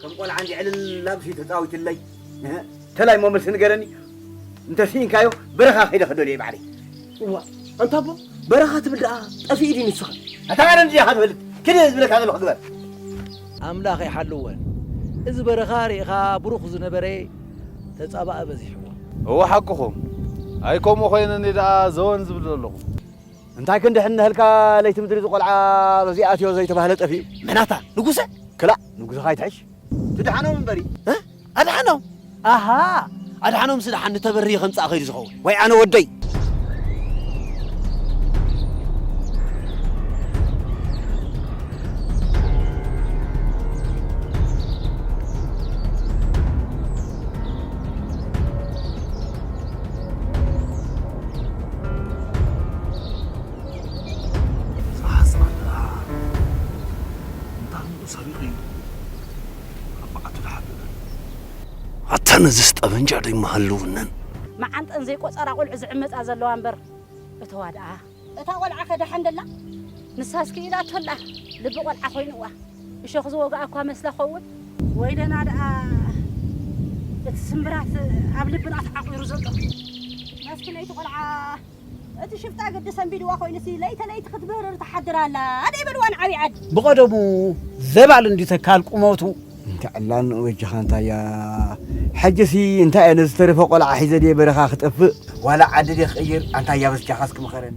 ከም ቆልዓ እንዲዕ ዕልል ኣቢሉ ተጻዊቱለይ። እንተላይ እሞ መልሲ ንገረኒ እንተ ስኢንካዮ በረኻ ከይደ ክደልዮ እየ ባዕለይ እዋ ኣንታ ኣቦ በረኻ ትብል ደኣ ጠፊኡ ድዩ ንስኻ ኣታ ኣነ እንድያ ከትፈልጥ ክደ ዝብለካ ዘለኹ ግበር ኣምላኽ ይሓልወን እዚ በረኻ ሪኢኻ ብሩኽ ዝነበረ ተጻባኢ በዚሕዎ። እወ ሓቅኹም ኣይ ከምኡ ኮይነ እኔ ደኣ ዘወን ዝብል ዘለኹ። እንታይ ክንድሕን እነሀልካ ለይቲ ምድሪ ዝቆልዓ በዚ ኣትዮ ዘይተባህለ ጠፊኡ። መናታ ንጉሰ ክላእ ንጉሰኻ ይትሕሽ። ትድሓኖም እምበሪ። ኣድሓኖም ኣሃ ኣድሓኖም ስድሓን ንተበርየ ከምጻእ ከይዱ ዝኸውን ወይ ኣነ ወደይ ክንርኢ ኢና ኣርባዕተ ተሓቢረን። ኣታ ነዝስ ጠበንጃ ዶ ኣይመሃለወነን። መዓንጠን ዘይቆጸራ ቆልዑ ዝዕመጻ ዘለዋ እምበር እተዋ ደኣ። እታ ቆልዓኸ ደሓን ደላ? ንሳስ ክኢላቶ ኣላ ልቢ ቆልዓ ኮይኑዋ እሾኽ ዝወግኣ እኳ መስላ ክኸውን። ወይለና ደኣ እቲ ስምብራት ኣብ ልብና ተዓቑሩ ዘሎ። መስኪነይቲ ቆልዓ። እቲ ሽፍታ ግዲ ሰንቢድዋ ኮይኑሲ ለይተ ለይቲ ክትብህርር ትሓድር ኣላ ደይበልዋ ንዓብይ ዓዲ። ብቐደሙ ዘባል እንድዩ ተካል ቁመቱ። እንተ ዕላን ወጅኻ እንታያ ሕጅሲ እንታይ እየ ነዚ ዝተረፈ ቆልዓ ሒዘ ድየ በረኻ ክጠፍእ ዋላ ዓዲ ድየ ክቕይር ኣንታያ በስጃኻስ ክምኸረኒ።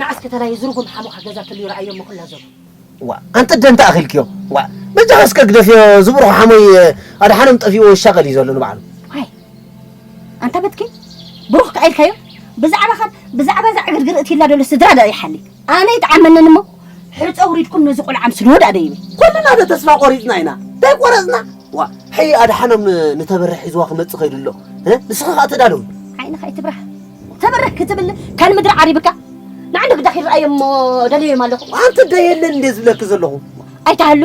ንዓስ ከተላይ እዚ ርጉም ሓሙኻ ገዛ ተልዩ ረኣዮ እሞ ክላ ዘሎ ዋ ኣንተ ደንተ ኣኺልክዮ ዋ በጃኻ እስከ ግደፍዮ ዝብርኹ ሓሞይ ኣድሓኖም ጠፊእዎ ይሻቐል እዩ ዘሎ ንባዕሉ ዋይ ኣንታ በትኪ ብሩኽ ከኣ ኢልካዮ ብዛዕባ ካብ ብዛዕባ እዛ ዕግርግር እትይላ ደሎ ስድራ ደኣ ይሓሊ ኣነ ይጥዓመንን እሞ ሕፀ ውሪድኩም ነዚ ቆልዓ ኣምስልዎ ዳኣ ደይበ ኩልና ዶ ተስፋ ቆሪፅና ኢና ተይቆረፅና ዋ ሕይ ኣድሓኖም ንተበርሕ ሒዝዋ ክመፅእ ከይዱ ኣሎ ንስኺ ከዓ ተዳለዊ ዓይንኻ ኣይትብራህ ተበርሕ ክትብል ካን ምድሪ ዓሪብካ ንዓንዲ ግዳ ክረኣዮም እሞ ደለዮም ኣለኹ ኣንቲ ደ የለን እንደ ዝብለኪ ዘለኹ ኣይትሃሉ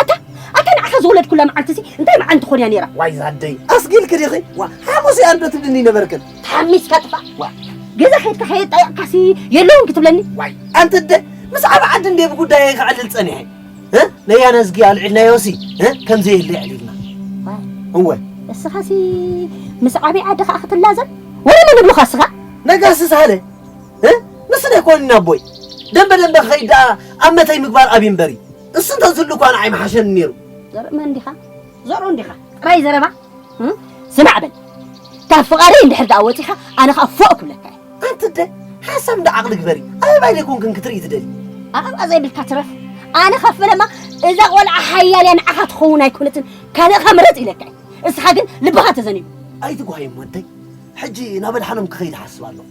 ኣታ ኣታ ንዓኻ ዝወለድኩላ መዓልቲ ሲ እንታይ መዓልቲ ትኾን እያ ነይራ ዋይ ዛደይ ኣስጊልኪ ዲኺ ዋ ሓሙስ እያ እንዶ ትብልኒ ነበርክን ተሓሚስካ ጥፋእ ገዛ ከድካ ከየጣየቕካሲ የለውን ክትብለኒ ዋይ ኣንቲ እደ ምስ ዓብ ዓዲ እንደ ብጉዳይ ክዕልል ጸኒሐ ለያና ዝጊ ኣልዒልናዮሲ ከምዘ የለ ዕሊልና እወ እስኻሲ ምስ ዓብይ ዓዲ ከዓ ክትላዘብ ወረ መን ብሉኻ እስኻ ነጋሲ ሳለ ንሱ ደ ኮንና ኣቦይ ደንበ ደንበ ከይድ ደኣ ኣብ መተይ ምግባር ኣብይ እምበሪ እሱ እንተዝህሉ እኳ ንዓይ ምሓሸኒ ነይሩ ዘርኢ መን ዲኻ ዘርኡ እንዲኻ ጥራይ ዘረባ ስማዕ በል ካብ ፍቓደይ እንድሕር ደኣ ወጺኻ ኣነ ከኣ ፎእ ክብለካ እየ። ኣንቲ እደ ሓሳብ እንዳ ዓቕሊ ግበሪ ኣበባይ ዘይኮንክን ክትርኢ ትደሊ። ኣበባ ዘይብልካ ትረፍ ኣነ ካብ ፈለማ እዛ ቆልዓ ሓያል እያ ንዓኻ ትኸውን ኣይኮነትን ካልእኻ ምረጽ ኢለካ እየ እስኻ ግን ልብኻ ተዘኒቡ። ኣይትጓየም ወደይ ሕጂ ናብ ኣድሓኖም ክኸይድ እሓስብ ኣለኹ።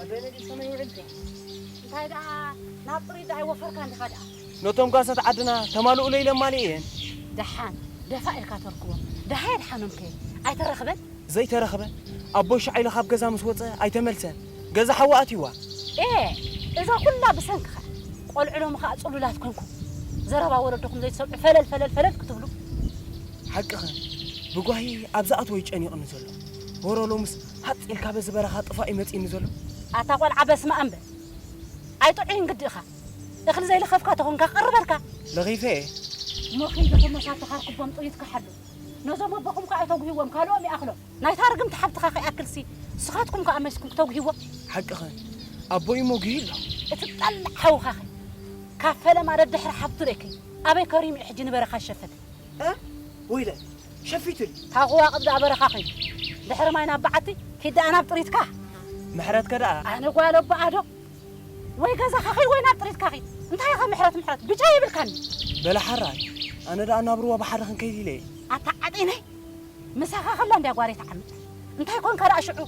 ኣደይ ነዲይ ሰመይ ውዒል ድያ? እንታይ ደኣ ናብ ጽሪት ደኣ ኣይወፈርካን ዲኻ ደኣ? ነቶም ጓሶት ዓድና ተማልኡለይ ኢለ ኣማሊኤ እየን። ደሓን ደፋእ ኢልካ ተርክቦም። ደሃይ ኣድሓኖምከ ኣይተረኽበን? ዘይተረኽበ? ኣቦይ ሻዕ ኢሉ ካብ ገዛ ምስ ወጸ ኣይተመልሰን። ገዛ ሓዊ ኣትዩዋ። ኤህ! እዛ ኩላ ብሰንክኻ። ቆልዑ ሎሚ ከኣ ጽሉላት ኮንኩም። ዘረባ ወለዶኹም ዘይትሰምዑ ፈለል ፈለል ፈለል ክትብሉ። ሓቅኽን። ብጓሂ ኣብ ዝኣትዎ እዩ ጨኒቑኒ ዘሎ። ወረ ሎምስ ሃጽ ኢልካ በዚ በረኻ ጥፋእ እዩ መጺእኒ ዘሎ። ኣታ ቆልዓ በስመኣም በል ኣይጥዑይን ግዲ እኻ እኽሊ ዘይለኸፍካ ተኾንካ ክቅርበልካ። ለኺፈ እየ። እሞ ኪድ እኹም ነታ እተኻርኩቦም ጥሪት ክሓሉ ነዞም ኣቦኹም ከኣ ኣይተጉህዎም ካልኦም ይኣኽሎም ናይታ ርግምቲ ሓብትኻ ከይኣክልሲ ንስኻትኩም ከኣ መሲኩም ክተጉህዎም። ሓቅኽን ኣቦይ እሞ ጉሂ ኣሎ። እቲ ዝጠልዕ ሓውኻኸ ካብ ፈለማ ደድሕሪ ሓብቱ ርኤክይ ኣበይ ከሪሙ እዩ ሕጂ ንበረኻ ዝሸፈተ። እህ ወይለይ ሸፊቱኒ። ካብ ኹዋቕብ ደኣ በረኻ ዄንኩ። ድሕሪ ማይ ናብ በዓቲ፣ ኪድ ደኣ ናብ ጥሪትካ። ምሕረትከ ደኣ? ኣነ ጓል ኣቦኣ'ዶ? ወይ ገዛኻ ኺድ ወይ ናብ ጥሪትካ ኺድ። እንታይ ኢኻ ምሕረት ምሕረት? ብጫ የብልካን'ዩ። በለ ሓራይ። ኣነ ደኣ ናብ ሩባ ባሕሪ ክንከይድ ኢለ'የ። ኣታ ዓጢነይ! ምሳኻ ኸላ እንድያ ጓለይ ትዓምጽ። እንታይ ኰንካ ደኣ ሽዑ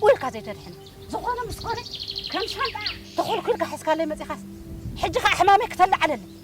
ኡይ ኢልካ ዘይተድሕና? ዝዀነ ምስ ኰነ ከም ሻንጣ ተዀልኲልካ ሒዝካለይ መጺኻስ፣ ሕጂ ኸኣ ሕማመይ ክተለዓለለይ?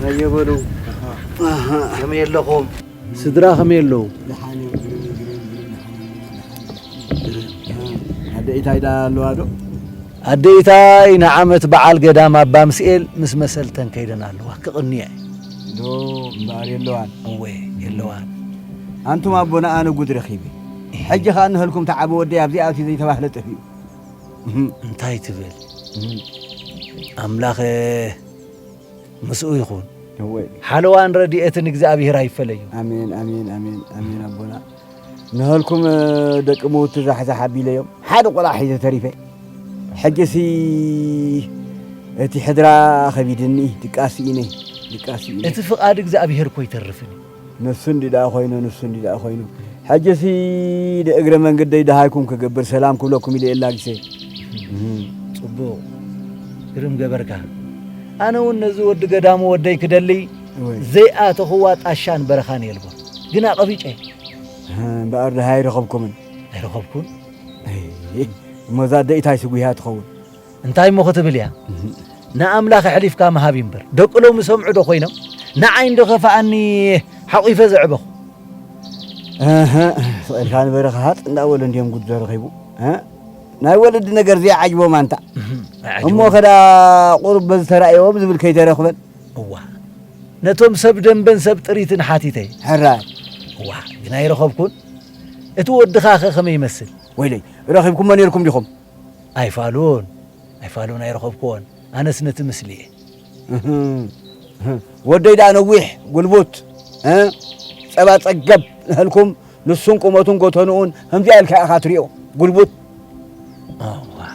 ሃየ በሉ ከመይ ኣለኹም? ስድራ ከመይ ኣለዉ? ኣደ ኢታይ ደኣ ኣለዋ ዶ? ኣደ ኢታይ ንዓመት በዓል ገዳም ኣባ ምስኤል ምስ መሰልተን ከይደን ኣለዋ ክቕንየ ዶ እምበኣር የለዋን እወ የለዋን ኣንቱም ኣቦና ኣነ ጉድ ረኺበ ሕጂ ከኣ እንሀልኩም ተዓቢ ወደይ ኣብዚኣ ኣትዩ ዘይተባህለ ጠፊኡ እህ። እንታይ ትብል ኣምላክ ምስኡ ይኩን። እወይ ሓለዋን ረድኤትን እግዚኣብሄር ኣይፈለዩ። ኣሜን ኣሜን ኣሜን ኣሜን ኣቦና ንሀልኩም ደቂ ምውቲ ዛሕዛሕ ኣቢለዮም ሓደ ቆልዓ ሒዘ ተሪፈ ሕጂሲ እቲ ሕድራ ከቢድኒ ድቃስ ስኢነ ድቃስ ስኢነ እቲ ፍቃድ እግዚኣብሄር እኮ ኣይተርፍን እዩ። ንሱ እንዲ ደኣ ኮይኑ ንሱ እንዲ ደኣ ኮይኑ ሕጂሲ እግረ መንገደይ ደሃይኩም ክገብር ሰላም ክብለኩም ኢለ የላጊሰ ጽቡቕ ግርም ገበርካ ኣነ እውን ነዚ ወዲ ገዳሙ ወደይ ክደሊ ዘይኣተኽዋ ጣሻን በረኻን የልቦ ግን ኣቐቢጨ እምበኣር ደሃይ ኣይረኸብኩምን ኣይረኸብኩን እሞዛ ደኢታይ ስጒሃ ትኸውን እንታይ እሞ ክትብል እያ ንኣምላኽ ኣሕሊፍካ ምሃብ እዩ እምበር ደቂ ሎም ይሰምዑ ዶ ኮይኖም ንዓይ እንዶ ከፋኣኒ ሓቚፈ ዘዕበኹ ስቕልካ ንበረኻ ሃፅ እንዳበሉ እንዲዮም ጉድ ዘረኺቡ ናይ ወለዲ ነገር ዘይዓጅቦም ኣንታ እሞ ከዳ ቁሩብ በዚ ተራእዮም ዝብል ከይተረኽበን እዋ ነቶም ሰብ ደንበን ሰብ ጥሪትን ሓቲተ ሕራ እዋ ግና ይረኸብኩን እቲ ወድኻ ኸ ከመይ ይመስል ወይለይ ረኺብኩሞ ነርኩም ዲኹም ኣይፋሉን ኣይፋሉን ኣይረኸብኩዎን ኣነስ ነቲ ምስሊ እየ። እህም ወደይ ደኣ ነዊሕ ጉልቡት ጸባ ጸገብ ነሀልኩም ንሱን ቁመቱን ጎተንኡን ከምዚኣ ኢልካ ኢኻ ትሪኦ ጉልቡት። እዋይ።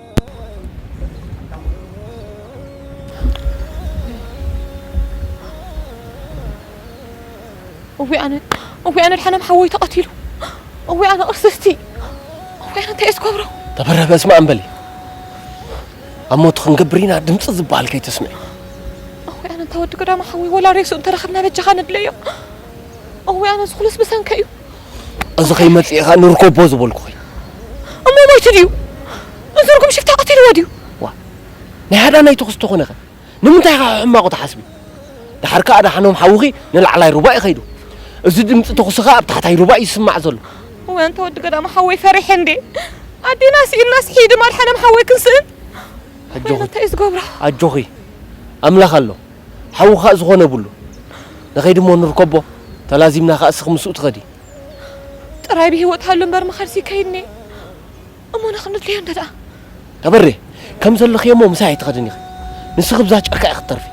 እወ ኣነ እወ ኣነ ድሓናም ሓወይ ተቐቲሉ እወ ኣነ ቅርስስቲ እወ ኣነ እንታይ ዝገብሮ ተበረ በስመ ኣም በሊ ኣብ ሞት ክንገብር ኢና ድምፂ ዝበሃል ከይተስምዒ እወ ኣነ እንታ ወዲ ገዳማ ሓወይ ወላ ሬሱ እንተረኸብና በጃኻ ነድለዮ እወ ኣነ ዝኹሉስ ብሰንከ እዩ እዚ ከይመጽእ ኢኻ ንርኮቦ ዝበልኩ ኸይ እሞ ሞይቱ ድዩ እዚ ርጉም ሽፍታ ቀቲልዎ ድዩ ዋ ናይ ሃዳናይ ተኹሲ ተኾነ ኸ ንምንታይ ኢኻ ሕማቑ ትሓስቢ ድሓር ከኣ ኣድሓኖም ሓውኺ ንላዕላይ ሩባ እዩ ኸይዱ እዚ ድምጺ ተኹሲ ኸኣ ኣብ ታሕታይ ሩባ እዩ ዝስማዕ ዘሎ ወይ ኣንታ ወዲ ገዳም ሓወይ ፈሪሐ እንዴ ኣዴና ስኢንናስ ሒድም ኣድሓኖም ሓወይ ክንስእን ኣጆኺ እንታይ እዩ ዝገብሮ ኣጆኺ ኣምላኽ ኣሎ ሓዉ ካእ ዝኾነ የብሉ ንኸይድ እሞ ንርከቦ ተላዚምና ካእ እስኺ ምስኡ ትኸዲ። ጥራይ ብሂወት ሃሉ እምበር ምኻድሲ ይካየድ እንኤ እሞ ንኽንድልዮ እንተድኣ። ተበሬ ከም ዘለኽዮ እሞ ምሳይ ኣይትኸድን ኢኺ ንስኺ ብዛ ጨርካ ኢኺ ትተርፊ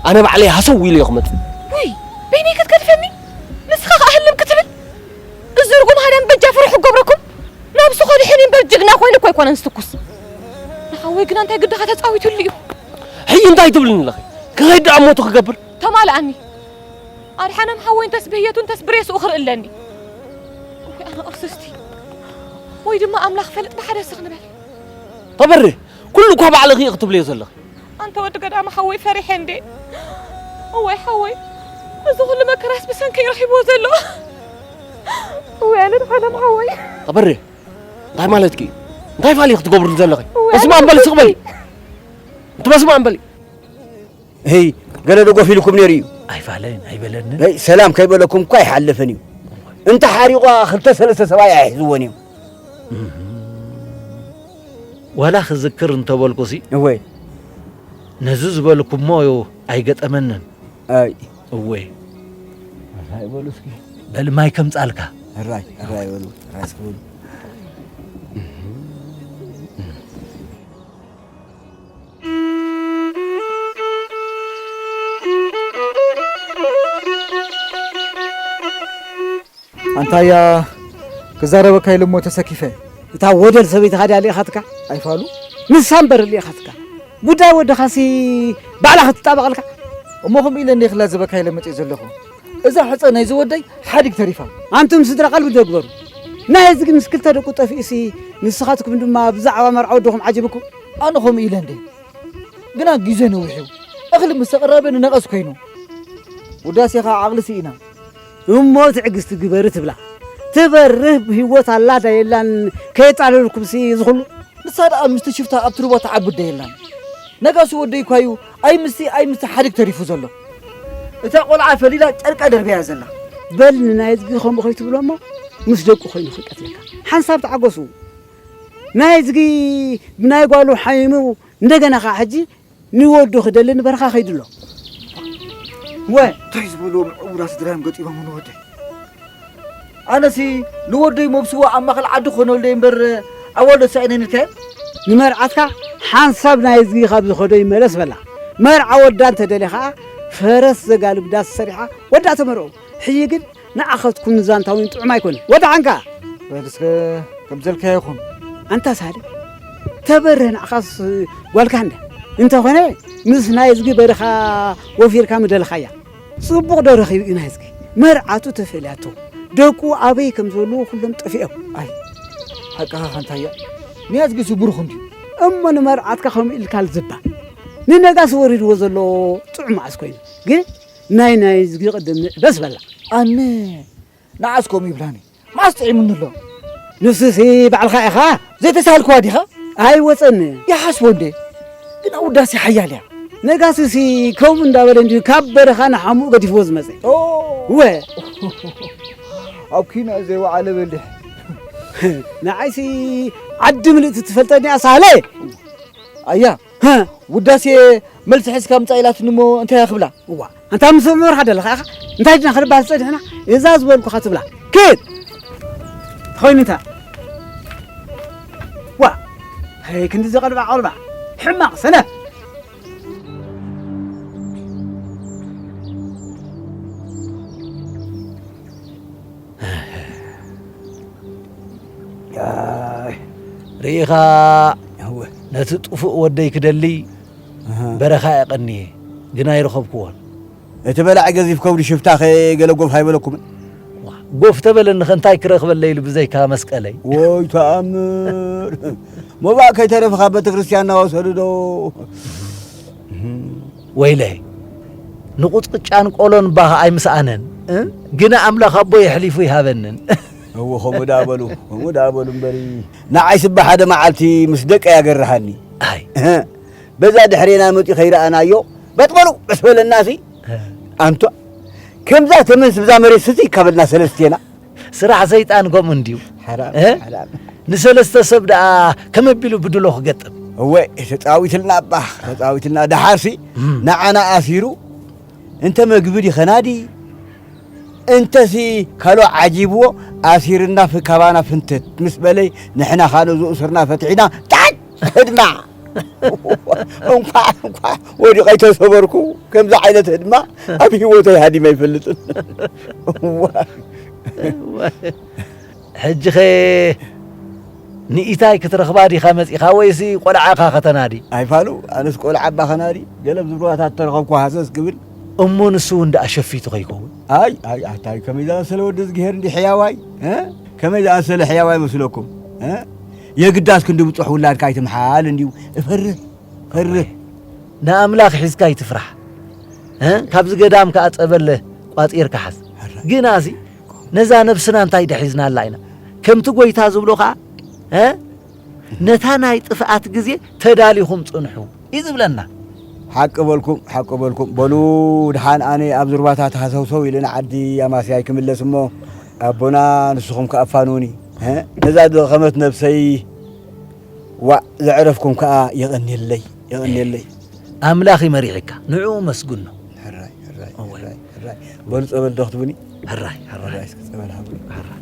ኣነ ባዕለይ ሃሰው ኢለዮ ክመጽእ። ውይ በይነይ ክትገድፈኒ ንስኻ ካእ ህልም ክትብል እዚ ርጉም ሃዳሚ በጃ ፍርሑ ክገብረኩም ናብሱ ከድሕን እዩ እምበር ጅግና ኮይኑ እኮ ኣይኮነን ዝትኩስ ንሓወይ ግና እንታይ ግድኻ ተጻዊትሉ እዩ። ሕጂ እንታይ ትብልኒ ኣለኺ? ክኸይድ ደኣ ሞቱ ክገብር ተማልኣኒ ኣድሓኖም ሓወይ እንተስ ብህየቱ እንተስ ብሬስኡ ክርኢ ኣለኒ ወይ ኣነ ቁርስስቲ ወይ ድማ ኣምላኽ ፈልጥ ብሓደ ስኽ ንበል ተበሪ ኩሉ እኳ ባዕልኺ እዩ ክትብልዮ ዘለኺ ኣንተ ወዲ ገዳማ ሓወይ ፈሪሐ እንዴ እወይ ሓወይ እዚ ኩሉ መከራስ ብሰንከይ ረኺብዎ ዘሎ እወይ ኣነ ድሓኖም ሓወይ ተበሪ እንታይ ማለትኪ እዩ? እንታይ ፋሊ ክትገብሩ ዘለኺ? በስመ ኣብ በሊ ስቕ በሊ እቲ በስመ ኣብ በሊ ህይ ገለ ደጎፍ ኢልኩም ነይሩ እዩ ኣይፋለን ኣይበለንን ይ ሰላም ከይበለኩም እኳ ኣይሓለፈን እዩ እንተ ሓሪቋ ክልተ ሰለስተ ሰብኣይ ኣይሕዝዎን እዮም ዋላ ክዝክር እንተበልኩሲ እወይ ነዚ ዝበልኩሞ እዩ ኣይገጠመንን ኣይ እወ ራይ በሉ እስኪ በል ማይ ከምጻልካ ራይ ራይ በሉ ራይ እስኪ በሉ ኣንታያ ክዛረበካ ኢሉ እሞ ተሰኪፈ እታ ወደል ሰበይቲ ካዲያ ልኢኻትካ ኣይፋሉ ንሳ እምበር ልኢኻትካ ጉዳይ ወድኻሲ ባዕላ ክትጣበቐልካ እሞ ከምኡ ኢለ እንደ ክላዘበካ ኢለ መፅእ ዘለኹ እዛ ሕፀ ናይ ዝወደይ ሓዲግ ተሪፋ ኣንቱም ስድራ ቃልቢ ደግበሩ ናይ እዚ ግን ምስ ክልተ ደቁ ጠፊኡሲ ንስኻትኩም ድማ ብዛዕባ መርዓ ወድኹም ዓጅብኩም ኣነ ከምኡ ኢለ እንደ ግና ግዜ ነዊሑ እኽሊ ምስ ተቐረበ ንነቐዝ ኮይኑ ውዳሴኻ ዓቕሊ ስኢና እሞ ትዕግስቲ ግበሪ ትብላ ትበርህ ብህይወት ኣላ ዳ የላን ከየጣለልኩምሲ እዚ ኹሉ ንሳ ደኣ ምስቲ ሽፍታ ኣብቲ ሩባ ትዓብድ ዶ የላን ነጋሲ ወደይ እኳ እዩ ኣይ ምስቲ ኣይ ምስቲ ሓዲግ ተሪፉ ዘሎ እታ ቆልዓ ፈሊላ ጨርቃ ደርብያ ዘላ በል ንናይዝጊ ከምኡ ከይትብሎ እሞ ምስ ደቁ ኮይኑ ክንቀትለካ ሓንሳብ ተዓገሱ ናይዝጊ ብናይ ጓሉ ሓይኑ እንደገና ከዓ ሕጂ ንወዱ ክደሊ ንበረኻ ከይዱ ኣሎ ወ እንታይ ዝበልዎ ምዕውራ ስድራዮም ገጢሞም ንወደይ ኣነሲ ንወደይ መብስዎ ኣብ ማእኸል ዓዲ ክኾነለይ እምበር ኣዋልዶ ተሳኢነ ንልካዮ ንመርዓትካ ሓንሳብ ናይ እዝጊ ካብ ዝኸዶ ይመለስ በላ መርዓ ወዳ እንተደልየ ከዓ ፈረስ ዘጋልብ ዳስ ሰሪሓ ወዳ ተመርዑ ሕጂ ግን ንዓኻትኩም ንዛንታ እውን ጥዑም ኣይኮነን። ወደሓንካ! በል እስከ ከም ዘልካዮ ይኹን። ኣንታ ሳልሕ ተበርህ ንዓኻስ ጓልካ እንዳ እንተኾነ ምስ ናይዝጊ በረኻ ወፊርካ ምደለኻያ። ጽቡቕ ዶ ረኺቡ እዩ ናይዝጊ? መርዓቱ ተፈልያቶ፣ ደቁ ኣበይ ከም ዘለዉ ኩሎም ጠፊኦም። ኣይ ሓቅኻ ካንታያ ንያዝጊሱ ብሩኽ እንድዩ። እሞ ንመርዓትካ ከምኡ ኢልካል ዝባ ንነጋሲ ወሪድዎ ዘሎ ጥዑም መዓስ ኮይኑ ግን ናይ ናይ ዝጊ ቅድም ንዕበስ በላ ኣነ ንዓስ ከምኡ ይብላኒ መዓስ ጥዒሙኒ ኣሎ ንሱሲ ባዕልኻ ኢኻ ዘይተሳልክዋ ዲኻ ኣይወፀኒ ይሓስቦ እንዴ ግና ውዳሴ ሓያል እያ ነጋስሲ ከምኡ እንዳበለ እንዲዩ ካብ በረኻ ንሓሙኡ ገዲፍዎ ዝመፀ ወ ኣብ ኪና ዘይወዓለ በሊሕ ንዓይሲ ዓዲ ምልእቲ ትፈልጠኒ ኣሳህለ ኣያ ሀ ውዳሴ መልሲ ሕዝካ ምፃእ ኢላትኒ እሞ እንታያ ክብላ እዋ ኣንታ ምስ ምምርሓ ደለኻ ኢኻ እንታይ ድና ክንባል ዝፀኒሕና እዛ ዝበልኩኻ ትብላ ክድ ተኾይኑ እንታ ዋ ሀይ ክንዲ ዘቐልባ ቆልባ ሕማቕ ሰነፍ ርኢኻ ነቲ ጥፉእ ወደይ ክደሊ በረኻ የቐንየ ግን ኣይረኸብክዎን። እቲ በላዒ ገዚፍ ከብዱ ሽፍታኸ ገለ ጎፍ ኣይበለኩምን? ጎፍ ተበለኒኸ እንታይ ክረኽበለይ ኢሉ ብዘይካ መስቀለይ። ወይ ተኣምር! ሞባእ ከይተረፈ ካብ ቤተ ክርስቲያን እናወሰዱ ዶ ወይለይ ንቁፅቅጫን ቆሎን ባህ ኣይምስኣነን እ ግና ኣምላክ ኣቦይ የሕሊፉ ይሃበንን። እው ከምኡ ደኣ በሉ ከምኡ ደኣ በሉ እምበሪ ንዓይስ እባ ሓደ መዓልቲ ምስ ደቀይ ኣገርሃኒ ኣይ እህ በዛ ድሕሬና መጺኡ ከይረኣናዮ በጥ በሉ በስ በለናሲ ኣንቷ ከምዛ ተመንስ ብዛ መሬት ስቲ ካበልና ሰለስቴና ስራሕ ሰይጣን ከምኡ እንድዩ ንሰለስተ ሰብ ደኣ ከመቢሉ ብድሎ ክገጥም እወ ተፃዊትልና እባ ተፃዊትልና ደሓርሲ ንዓና ኣሲሩ እንተ መግቢ ዲኸናዲ እንተሲ ካሎ ዓጂብዎ ኣሲርና ፍካባና ፍንትት ምስ በለይ ንሕና ካሎ ዝእሱርና ፈትሒና ጣዕ ህድማ እንኳዕ እንኳዕ ወዲቀ ተሰበርኩ ከምዚ ዓይነት ህድማ ኣብ ሂወተይ ሃዲመ ኣይፈልጥን ሕጂ ኸ ንኢታይ ክትረኽባ ዲኻ መጺኻ ወይሲ ቆልዓኻ ከተናዲ ኣይፋሉ ኣነስ ቆልዓ እባ ከናዲ ገለ ዝብርባታት ተረኸብኩ ሃሰስ ክብል እሞ ንሱ እውን ደኣ ሸፊቱ ከይከውን ኣይ ኣይ ኣታይ ከመይ ዝኣመሰለ ወዲ ዝግሄር እንዲ ሕያዋይ ከመይ ዝኣመሰለ ሕያዋይ መስለኩም የግዳስ ክንዲ ብጹሕ ውላድካ ኣይትምሓል እንድዩ እፈርህ ፈርህ ንኣምላኽ ሒዝካ ኣይትፍራሕ ካብዚ ገዳም ከዓ ጸበለ ቋጺርካ ሓዝ ግና እዚ ነዛ ነብስና እንታይ ደሒዝናላ ኢና ከምቲ ጎይታ ዝብሎ ከዓ ነታ ናይ ጥፍኣት ግዜ ተዳሊኹም ጽንሑ እዩ ዝብለና ሓቂ በልኩም ሓቂ በልኩም በሉ ድሓን ኣነ ኣብ ዙርባታት ሃሰውሰው ኢልና ዓዲ ኣማስያይ ክምለስ እሞ ኣቦና ንስኹም ከኣ ኣፋንዉኒ ነዛ ዝደኸመት ነብሰይ ዋእ ዘዕረፍኩም ከኣ የቐንየለይ የቐንየለይ ኣምላኽ እዩ መሪሕካ ንዕኡ መስግኖ ሕራይ ሕራይ ሕራይ ሕራይ በሉ ጸበል ዶ ክትቡኒ ሕራይ ሕራይ እስኪ ጸበል ሃብሉ ሕራይ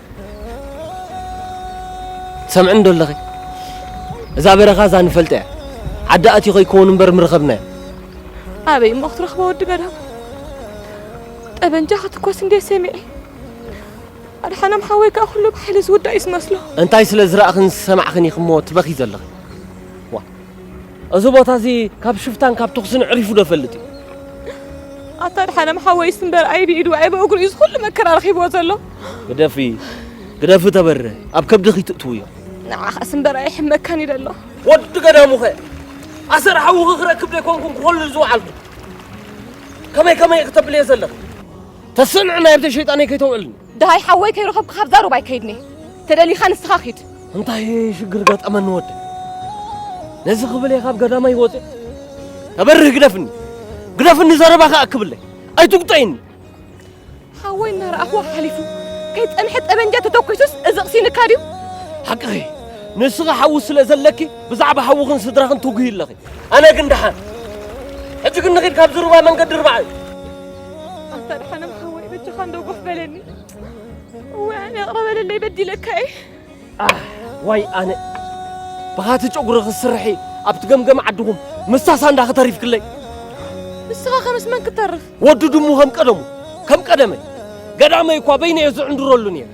ትሰምዕኒ ዶ ኣለኺ? እዛ በረኻ እዛ ንፈልጣ እያ። ዓዲ ኣትዩ ከይከውን እምበር ምረኸብናዮ። ኣበይ እሞ ክትረኽቦ ወዲ ገዳም? ጠበንጃ ክትኮስ እንዴ ሰሚዐ። ኣድሓኖም ሓወይ ከዓ ኩሉ ብሓይሊ ዝውዳእ እዩ ዝመስሎ። እንታይ ስለ ዝረእኽን ዝሰማዕኽን ኢኺ እሞ ትበኺ ዘለኺ? እዚ ቦታ እዚ ካብ ሽፍታን ካብ ተኹስን ኣዕሪፉ ዶ ይፈልጥ እዩ? ኣታ ድሓነም ሓወይስ እምበር ኣይ ብኢዱ ኣይ ብእግሩ እዩ ዝኹሉ መከራ ረኺብዎ ዘሎ። ግደፊ ግደፊ ተበረ ኣብ ከብድኺ ትእትውዮ። ንዓኻስ እምበር ኣይሕመካን እዩ ዘሎ። ወዲ ገዳሙኸ ኣሰር ሓውኺ ክረክብ ዘይኮንኩን ክኾልል ዝወዓልኩ ከመይ ከመይ እየ ክተብልየ ዘለኺ? ተስዕንዕና የብተይ ሸይጣነይ ከይተውዕልኒ። ደሃይ ሓወይ ከይረኸብኩ ካብዛ ሩባ ኣይከይድን'የ ተደሊኻ ንስኻ ኪድ። እንታይ ሽግር ገጠመኒ ወደይ ነዚ ክብል'የ ካብ ገዳመይ ወጺእ ተበርህ ግደፍኒ ግደፍኒ ዘረባ ከኣ ክብለይ ኣይትጉጠይኒ ሓወይ እናረኣኽዎ ሓሊፉ ከይጸንሐ ጠበንጃ ተተኲሱስ እዚ ቕሲንካ ድዩ ሓቅኺ ንስኺ ሓዊ ስለ ዘለኪ ብዛዕባ ሓውኽን ስድራኽን ትጉሂ ኣለኺ ኣነ ግን ደሓን ሕጂ ግን ንኺድ ካብዚ ሩባ መንገዲ ርባዕ እዩ ኣታ ድሓንም ሓወይ በጃኻ እንዶ ጎፍ በለኒ እወ ኣነ ኣቕረበለለይ በዲለካ እየ ዋይ ኣነ ብኻቲ ጨጉሪ ክስርሒ ኣብቲ ገምገም ዓድኹም ምሳሳ እንዳ ክተሪፍክለይ ንስኻ ከምስ መን ክተርፍ ወዱ ድሙ ከም ቀደሙ ከም ቀደመይ ገዳመይ እኳ በይነ እየ ዝዕንድረሉ ነይረ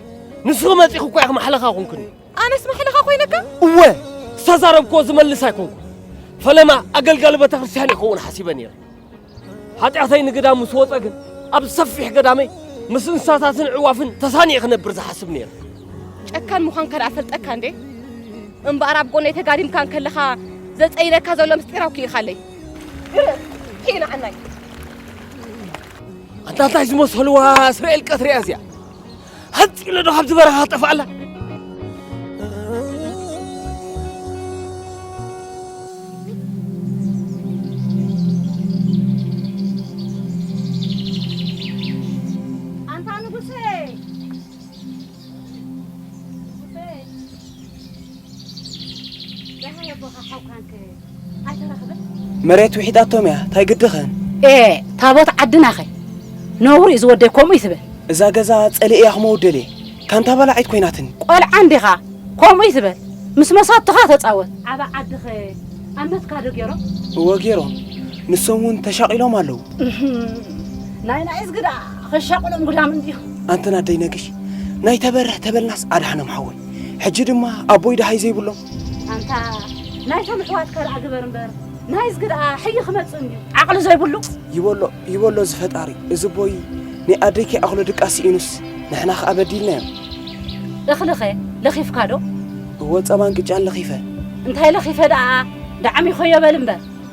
ንስኺ መፂኹ እኳ ኢኺ ማሕለኻ ኮንክኒ ኣነስ ማሕለኻ ኮይነካ እወ ዝተዛረብክዎ ዝመልስ ኣይኮንኩ ፈለማ ኣገልጋሊ ቤተ ክርስቲያን ይኸውን ሓሲበ ነይረ ሓጢኣተይ ንግዳም ምስ ወፀ ግን ኣብ ሰፊሕ ገዳመይ ምስ እንስሳታትን ዕዋፍን ተሳኒየ ክነብር ዝሓስብ ነይረ። ጨካን ምዃንካ ደኣ ፈልጠካ እንዴ እምበኣር ኣብ ጎነይ ተጋዲምካ እንከለኻ ዘፀይነካ ዘሎ ምስጢር ኣውኪኢኻለይ ግርም ኪኢና ዓናይ ኣንታ እንታይ ዝመሰልዋ እስራኤል ቀትሪያ እዚኣ ሃፅ ኢለ ዶ ካብቲ በረኻ ጠፍኣላ መሬት ውሒጣቶም እያ እንታይ ግድኸን ኤ ታቦት ዓድናኸ ነውሪ እዩ ዝወደይ ከምኡ እዩ ትብል እዛ ገዛ ጸሊእ እያ ክመውደል እየ ካንታ በላዒት ኮይናትኒ ቆልዓ እንዲኻ ከምኡ እዩ ትብል ምስ መሳትኻ ተጻወት ዓባ ዓድኸ ኣብ መትካዶ ገይሮም እወ ገይሮም ንሶም እውን ተሻቂሎም ኣለዉ ናይ ናይስ ግዳ ክሻቅሎም ጉዳም እንዲዩ ኣንተን ኣደይ ነግሽ ናይ ተበርህ ተበልናስ ኣድሓኖም ሓወይ ሕጂ ድማ ኣቦይ ደሃይ ዘይብሎም ኣንታ ናይቶም ኣሕዋት ካልኣ ግበር እምበር ናይዝ ግድኣ ሕይ ክመጽእ እንድዩ ዓቕሊ ዘይብሉ ይበሎ ይበሎ ዝፈጣሪ እዚ ቦይ ናይ ኣደይ ከይኣኽሎ ድቃ ስኢኑስ ንሕና ከኣ በዲልናዮ እኽልኸ ለኺፍካ ዶ እወ ጸባን ቅጫን ለኺፈ እንታይ ለኺፈ ደኣ ዳዕም ይኸዮ በል እምበር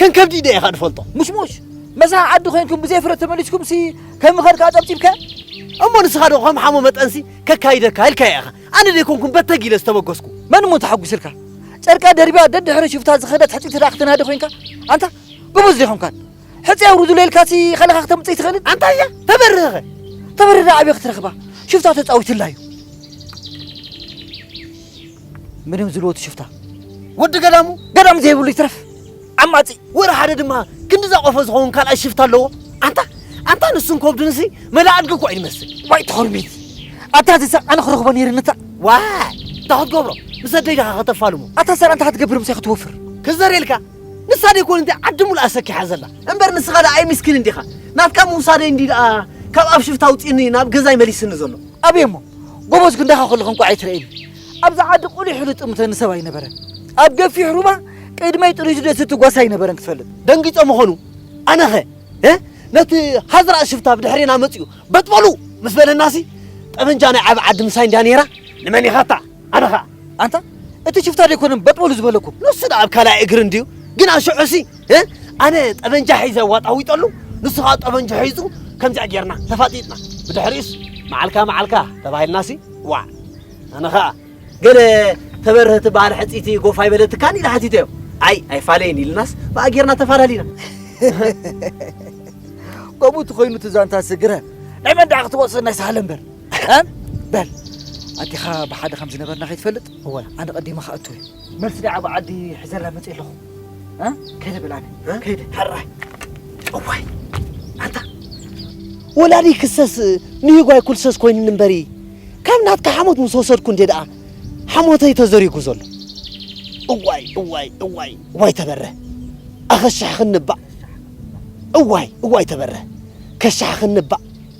ከም ከብዲ ዲየ ኢኻ ድፈልጦ ሙሽሙሽ መሳኺ ዓዲ ኮይንኩም ብዘይ ፍረ ተመሊስኩምሲ ከምኸድካ ጠብጢብከ እሞ ንስኻ ዶ ከም ሓሞ መጠንሲ ከካይደካ ኢልካያ ኢኻ ኣነ ደይኮንኩን በተግ ኢለ ዝተበገስኩ መን እሞ ተሓጒስልካ ጨርቃ ደርቢያ ደድሕሪ ሽፍታ ዝኸደት ሕጽይቲ ደኣ ክትናዲ ኮይንካ ኣንታ ጎበዝ ዘይኮንካን ሕጺ ኣውርዱለ ኢልካሲ ከለኻ ክተምጽእ ይትኽእልን ኣንታይ እያ ተበርህኸ ተበርህ ደኣ ኣበይ ክትረኽባ ሽፍታ ተጻዊትላ እዩ ምንም ዝልወቱ ሽፍታ ወዲ ገዳሙ ገዳም ዘይብሉ ይትረፍ ዓማፂ ወረ ሓደ ድማ ክንዲ ዛቆፈ ዝኸውን ካልኣይ ሽፍታ ኣለዎ ኣንታ ኣንታ ንሱን ኮብድንሲ መላኣድጊ እኳ እዩ ዝመስል ዋይ ተኸርሚት ኣታ ዝሰ ኣነ ክረኽቦ ነይሩ ንታ ዋይ እንታይ ክትገብሮ ምስ ኣደይ ዳኻ ከተፋልሙ ኣታ ሰር ኣንታ ክትገብር ምሳይ ክትወፍር ክዘርየልካ ንሳ ደይ ኮን እንታይ ዓዲ ሙሉኣ ሰኪሓ ዘላ እምበር ንስኻ ደኣ ኣይምስኪንን ዲኻ ናትካ ምውሳደይ እንዲ ደኣ ካብ ኣብ ሽፍታ ኣውፂኡኒ ናብ ገዛይ መሊስኒ ዘሎ ኣበይ እሞ ጎቦዝ ክንዳኻ ከለኹ እንቋዕ ኣይትረኤኒ ኣብዛ ዓዲ ቁሊሕ ኢሉ ዝጥምተኒ ሰብ ኣይነበረን ኣብ ገፊሕ ሩባ ቅድመይ ጥሪቱ ደስ ዝትጓስ ኣይነበረን ክትፈልጥ ደንጊጾ ምኾኑ ኣነኸ ነቲ ሃዝራእ ሽፍታ ብድሕሬና መጺኡ በጥበሉ ምስ በለናሲ ጠበንጃ ናይ ዓቢ ዓዲ ምሳይ እንድያ ነይራ ንመን ኢኻታ ኣነ ኸኣ ኣንታ እቲ ሽፍታ ዶ ኣይኮነን በጥበሉ ዝበለኩም ንሱ ደኣ ኣብ ካልኣይ እግሪ እንድዩ ግን ኣሽዑሲ እ ኣነ ጠበንጃ ሒዘ ዋጣዊጠሉ ንሱ ከዓ ጠበንጁ ሒዙ ከምዚኣ ጌርና ተፋጢጥና ብድሕሪኡስ መዓልካ መዓልካ ተባሂልናሲ ዋዕ ኣነ ከዓ ገለ ተበርህ ትበሃል ሕፅይቲ ጎፍ ኣይበለትካን ኢለ ሓቲተዮ ኣይ ኣይፋለይን ኢልናስ ብኣ ጌርና ተፋላሊና ከምኡ እቲ ኮይኑ እቲ ዛንታሲ ግረ ናይ መን ደኣ ክትወፅእ ናይ ሳህለ እምበር ቀም በል ኣዴኻ ብሓደ ከም ዝነበርና ከይትፈልጥ እወ ኣነ ቀዲመ ክኣቱ እየ መልሲ ናይ ዓቢ ዓዲ ሕዘላ መጽእ ኣለኹ እ ከይደ በል ኣነ ከይደ ሕራይ እዋይ ኣንታ ወላዲ ክሰስ ንሂጓይ ኩልሰስ ኮይኑኒ እምበሪ ካብ ናትካ ሓሞት ምስ ወሰድኩ እንዴ ደኣ ሓሞተይ ተዘሪጉ ዘሎ እዋይ እዋይ እዋይ እዋይ ተበረ ኣኸሻሕ ክንባእ እዋይ እዋይ ተበረ ከሻሕ ክንባእ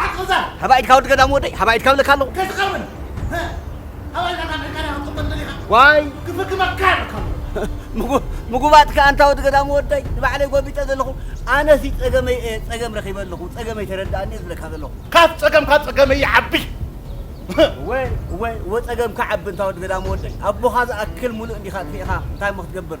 ሓቂ ዛር ሃባ ኢድካ ወዲ ገዳም ወደይ ሃባ ኢድካ ብለካ ኣለኹ ከይትቀርብን ሃባ ኢድካ ካብ ዕርቃንያ ክትቅጥል ደሊኻ ዋይ ክፍክመካ ይርከቡ ምጉባጥ ከ ኣንታ ወዲ ገዳም ወደይ ንባዕለይ ጎቢጠ ዘለኹ ኣነሲ ጸገመይ እየ ጸገም ረኺበ ኣለኹ ጸገመይ ተረዳእኒ እየ ዝብለካ ዘለኹ ካብ ጸገምካ ጸገመ ይዓቢ እወ እወ እወ ጸገምካ ዓቢ እንታ ወዲ ገዳም ወደይ ኣቦኻ ዝኣክል ሙሉእ እንዲኻ ትፌእኻ እንታይ እሞ ክትገብር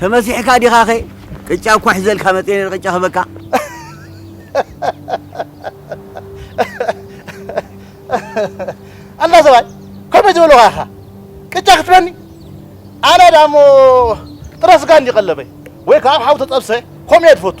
ተመሲሕካ ዲኻኸ ቅጫ እኳ ሒዘልካ መፅየ ነይረ ቅጫ ክህበካ ኣላ ሰብኣይ ከመይ ዝበልኻ ኢኻ ቅጫ ክትበኒ ኣነ ዳሞ ጥረ ስጋ እንዲ ቀለበይ ወይ ከዓ ኣብ ሓዊ ተጠብሰ ከምኡ እየ ዝፈቱ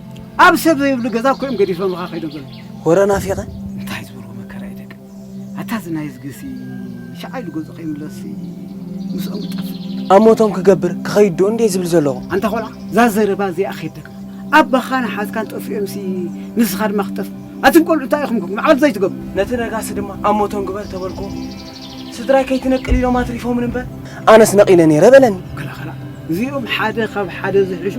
ኣብ ሰብ ዘይብሉ ገዛ እኮ እዮም ገዲፎምኻ ከይዶም ዘለዉ ሆረ ናፊቐ እንታይ ዝበልዎ መከራ እዩ ደቂ ኣታ እዚ ናይ ዝግሲ ሸዓ ኢሉ ገጹ ከይምለስሲ ምስኦም እጠፍእ ኣብ ሞቶም ክገብር ክኸይድ ዶ እንዴ ዝብል ዘለኹ ኣንታ ቆልዓ እዛ ዘረባ እዚኣ ከይደግማ ኣባኻን ሓዝካን ጠፊኦምሲ ንስኻ ድማ ክትጠፍእ ኣቱም ቆልዑ እንታይ ኢኹም ኮንኩም ዓቕሊ ዘይትገብሩ ነቲ ነጋሲ ድማ ኣብ ሞቶም ግበር ተበልኩዎ ስድራይ ከይትነቅል ኢሎም ኣትሪፎምን እምበር ኣነስ ነቒለ ነይረ በለኒ። ክላኸላ እዚኦም ሓደ ካብ ሓደ ዝሕሹ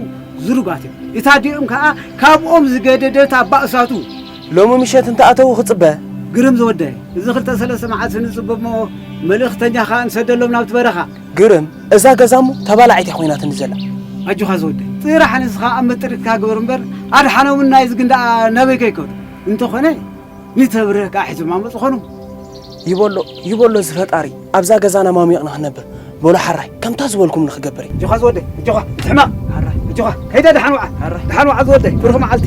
ዝሩባት እዮም። እቲ ኣዲኦም ከዓ ካብኦም ዝገደደት ኣብ ባእሳቱ ሎሚ ምሸት እንተኣተዉ ክፅበ ግርም ዝወደይ እዚ ክልተ ሰለስተ መዓልቲ ንፅበ እሞ መልእኽተኛ ከዓ ንሰደሎም ናብቲ በረኻ ግርም እዛ ገዛ እሞ ተባላዒት እያ ኮይናትኒ ዘላ ኣጆኻ ዝወደይ ጥራሕ ንስኻ ኣብ መጥሪትካ ግበር እምበር ኣድሓኖምና እዚ ግን ደኣ ናበይ ከይከዱ እንተኾነ ንተብርህ ከኣ ሒዞም ኣመጹ ኾኑ። ይበሎ ይበሎ እዚ ፈጣሪ ኣብዛ ገዛና ማሚቕና ክንነብር በሉ ሓራይ ከምታ ዝበልኩም ንክገብር እየ። እጆኻ ዝወደይ እጆኻ ትሕመቕ ሓራይ እጆኻ ከይደ ደሓን ወዓ ሓራይ ደሓን ወዓ ዝወደይ ብሩኽ መዓልቲ